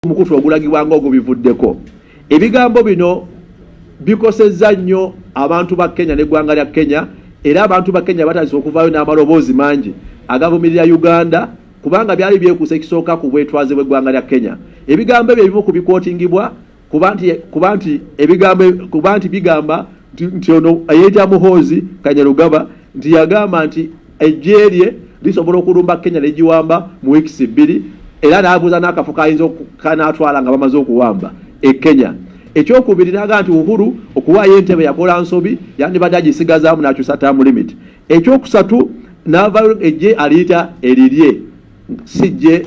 omukutu ogulagibwa nga ogubivuddeko ebigambo bino bikosezza nnyo abantu ba kenya neggwanga lya kenya era abantu ba kenya batandise okuvaayo n'amaloboozi mangi agavumirira uganda kubanga byali byekuusa ekisooka ku bwetwaze bw'eggwanga lya kenya ebigambo ebyo ebimu ku bikootingibwa kuba nti ebigambo kuba nti bigamba nti ono eyeeta muhoozi kanyarugaba nti yagamba nti Eggye lye lisobola okulumba Kenya ne giwamba mu wiikisi bbiri era n'abuuza n'akafo kayinza kanaatwala nga bamaze okuwamba e Kenya. Ekyokubiri n'aga nti Uhuru okuwaayo entebe yakola nsobi yandibadde agisigazaamu n'akyusa term limit. Ekyokusatu n'avayo eggye aliyita erirye si ggye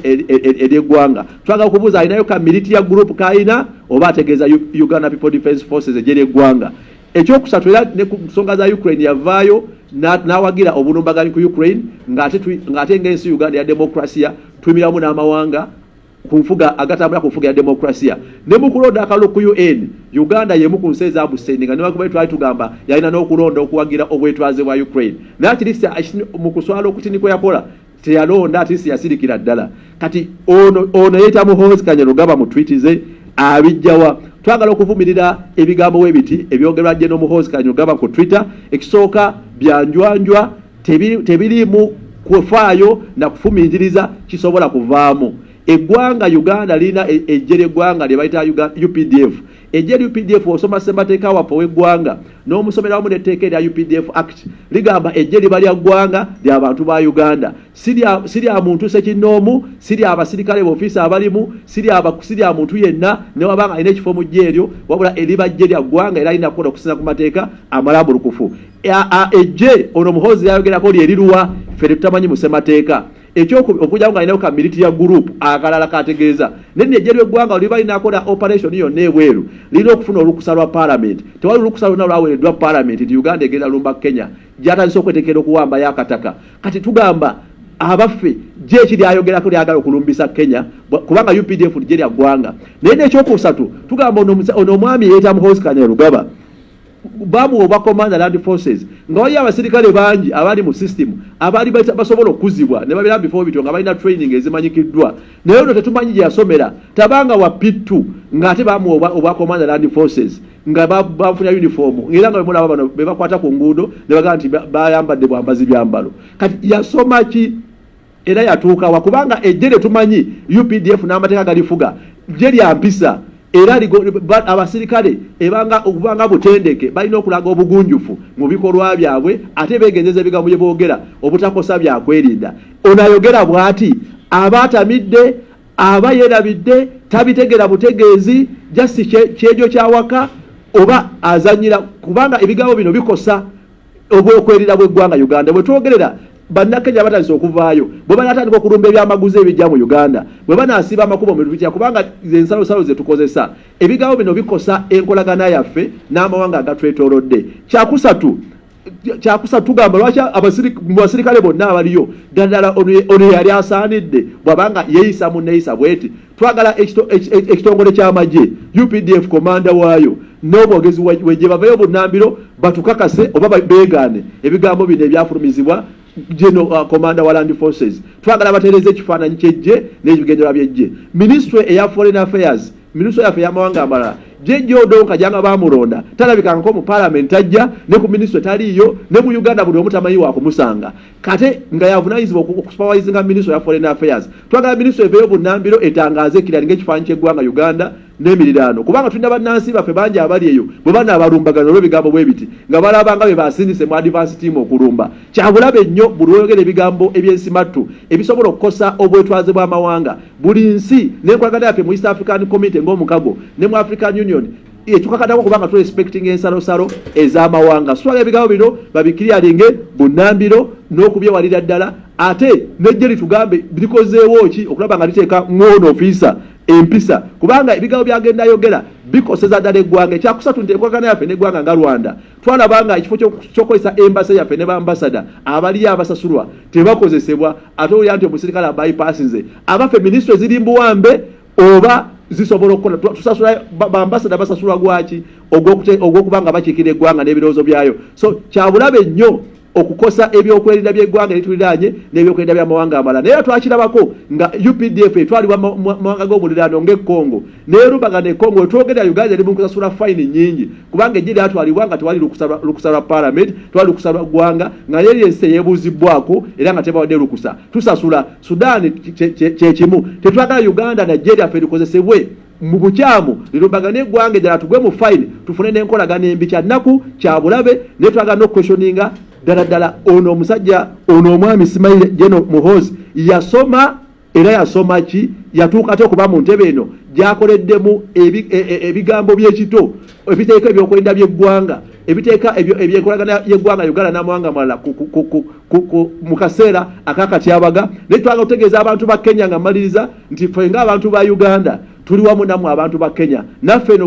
ery'eggwanga. Twagala okubuuza alinayo ka militia group k'alina oba ategeeza Uganda People Defence Forces eggye ly'eggwanga. Ekyokusatu era ne ku nsonga za Ukraine yavaayo n'awagira obulumbaganyi ku Ukraine ng'ate ng'ensi Uganda ya demokrasiya tuyimiramu n'amawanga ku nfuga agatambula ku nfuga ya demokrasiya ne mu kulonda akalulu ku UN Uganda y'emu ku nsi ezabusendinga newankubadde twali tugamba yalina n'okulonda okuwagira obwetwaze bwa Ukraine naye kiri mu kuswala okutini kwe yakola teyalonda ate siyasirikira ddala kati ono ono yeyita muhoozi kanyarugaba mu twiti ze abijjawa twagala okuvumirira ebigambo webiti ebyogerwa jeno muhoozi kanyarugaba ku twitter ekisooka byanjwanjwa tebiriimu kufaayo na kufumiitiriza kisobola kuvaamu eggwanga uganda lirina e, ejje ly'eggwanga lye bayita updf Eggye lya UPDF osoma ssemateeka waffe ow'eggwanga n'omusomera wamu n'etteeka erya UPDF Act ligamba eggye liba lya ggwanga lya bantu ba Uganda si lya muntu sekinnoomu si lya basirikale bofiisi abalimu si lya muntu yenna ne waba nga alina ekifo mu ggye eryo wabula eriba ggye lya ggwanga era lirina kukola okusinza ku mateeka amalambulukufu eggye ono muhoozi lyayogerako lyeriruwa ffe tetutamanyi mu ssemateeka ekyokubiri okujjako nga alinawo ka military group akalala kategeeza nenejje ly'eggwanga oliba linakola operation yonna ebweru lirina okufuna olukusa lwa palamenti tewali olukusa lwonna lwaweereddwa palamenti nti uganda egenda lumba kenya gyatandise okwetekera okuwambayo akataka kati tugamba abaffe gye eki lyayogerako lyagala okulumbisa kenya kubanga updf ligye lya ggwanga naye nekyokusatu tugamba ono omwami yeeta muhosikanya lugaba bamu oba command land forces nga waliyo abasirikale bangi abali mu system abali basobola okuzibwa ne babira before bityo nga balina training ezimanyikiddwa naye ono tetumanyi gye yasomera tabanga wa pittu ng'ate bamu oba, oba command land forces nga bafunira uniform era nga bemulaba bano bebakwata ku nguudo ne bagamba nti bayambadde bwambazi byambalo kati yasoma ki era yatuukawa kubanga ejje lyetumanyi updf n'amateeka galifuga jje lya mpisa era abasirikale ebanga okubanga butendeke balina okulaga obugunjufu mu bikolwa byabwe ate begenjeza ebigambo bye boogera obutakosa byakwerinda ono ayogera bw'ati aba atamidde aba yeerabidde tabitegera butegeezi jasi kyejo kyawaka oba azanyira kubanga ebigambo bino bikosa obwokwerira bw'eggwanga Uganda bwe twogerera bannakenya batandise okuvaayo bwe banatandika okulumba ebyamaguzi ebijja mu uganda bwe banaasiba amakubo mu bitutya kubanga ensalosalo ze tukozesa ebigambo bino bikosa enkolagana yaffe n'amawanga agatwetoolodde kyakusatu kyakusa tugamba lwaki mu basirikale bonna abaliyo ddala ono yali asaanidde bwabanga yeeyisa mu nneeyisa bweti twagala ekitongole ky'amagye updf komanda waayo n'omwogezi wegye bavayo bunnambiro batukakase oba beegaane ebigambo bino ebyafulumizibwa geno uh, komanda wa land forces twagala batereeze ekifaananyi ky'eggye n'ebigendera by'eggye minisitule eya foreign affairs minisitule yaffe ey'amawanga amalala jejja odonka janga bamulonda talabikangako mu palamenti ajja ne ku minisitule taliiyo ne mu uganda buli omu tamanyi wakumusanga kate nga yavunanyizibwa okusupawayizinga minisitule ya foreign affairs twagala minisitule eveeyo bunambiro etangaaze ekirani ngaekifaanyi kyeggwanga uganda n'emiriraano kubanga tulina bannansi baffe bangi abali eyo bwe banaabalumbagana olw'ebigambo bwe biti nga balabanga bye basindise mu advance team okulumba kyabulabe nnyo buli oyogera ebigambo eby'ensimattu ebisobola okukosa obwetwaze bw'amawanga buli nsi n'enkolagana yaffe mu east african community ng'omukago ne mu african union tukakatako kubanga turespectinga ensalosalo ez'amawanga sitwala ebigambo bino babikiryalinge bunambiro n'okubyewalira ddala ate nejje litugambe likozeewo ki okulaba nga liteeka ng'ono ofiisa empisa kubanga ebigambo byagenda ayogera bikoseza ddala eggwanga ekyakusatu nti enkolagana yaffe n'eggwanga nga rwanda twalaba nga ekifo kyokukozesa embasa yaffe ne baambasada abaliyo abasasulwa tebakozesebwa ate olya nti omusirikale abayipasinze abaffe minisitule ziri mbuwambe oba zisobola okukola tusasula bambasada basasulwa gwaki ogwokuba nga bakiikira eggwanga n'ebirowoozo byayo so kyabulabe nnyo okukosa ebyokwerinda byeggwanga erituliraanye n'ebyokwerinda byamawanga amalala naye twakirabako nga updf etwalibwa mumawanga g'omuliraano ng'ekongo nerubaga nekongo wetwogerera uganda eri munkusasula fayini nyingi kubanga ejje lyatwalibwa nga tewali lukusa lwa palamenti tewali lukusa lwa ggwanga nga yeri ensi eyebuuzibwako era nga tebawadde lukusa tusasula Sudan kyekimu tetwagala Uganda Nigeria ffe tukozesebwe mu bukyamu lirumbagane eggwanga eddala tugwe mu fayini tufune n'enkolagana embi kya nnaku kya bulabe naye twagala n'okukweshoninga ddala ddala ono omusajja ono omwami simaile geno muhozi yasoma era yasoma ki yatuuka te okuba mu ntebe eno gyakoleddemu e, e, ebigambo by'ekito ebiteeka ebyokwerinda byeggwanga ebiteeka ebyenkolagana yeggwanga uganda namawanga amalala mu kaseera akakatyabaga naye twagala okutegeeza abantu ba kenya nga maliriza nti fe ngaabantu ba uganda tuli wamu namwe abantu ba kenya naffe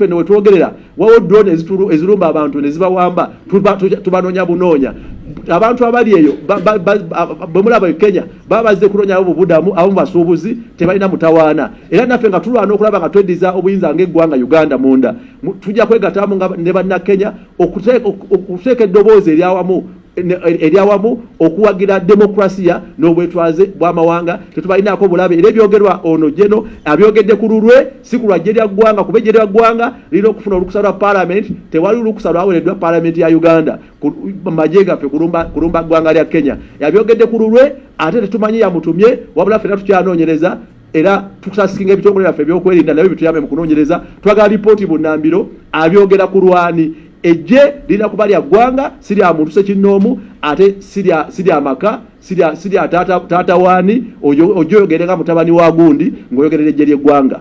no wetwogerera wawo drone ezirumba abantu nezibawamba tubanoonya bunoonya abantu abali eyo bemulaba e kenya baba bazze kunonyayo bubudamu abamu basuubuzi tebalina mutawaana era naffe nga tulwana okulaba nga tweddiza obuyinza ngaeggwanga uganda munda tujja kwegatamu nga ne bannakenya okuteeka eddoboozi eryawamu eryawamu okuwagira demokrasiya n'obwetwaze bw'amawanga tetubalinaako bulabe era ebyogerwa ono jeno abyogedde ku lulwe si ku lwajje lya ggwanga kuba ejje lya ggwanga lirina okufuna olukusa lwa palamenti tewali lukusa lwawereddwa palamenti ya uganda maje gaffe kulumba kulumba ggwanga lya Kenya yabyogedde ku lulwe ate tetumanyi yamutumye wabula fena tukyanoonyereza era tusasinga ebitongole byaffe ebyokwerinda nabyo bituyambe mu kunoonyereza twagala lipooti bunnambiro abyogera ku lwani ejje lirina kuba lya ggwanga si lya muntu sekinnoomu ate si lya maka si lya taata waani ojo oyogere nga mutabani wa gundi ng'oyogerera ejje ly'eggwanga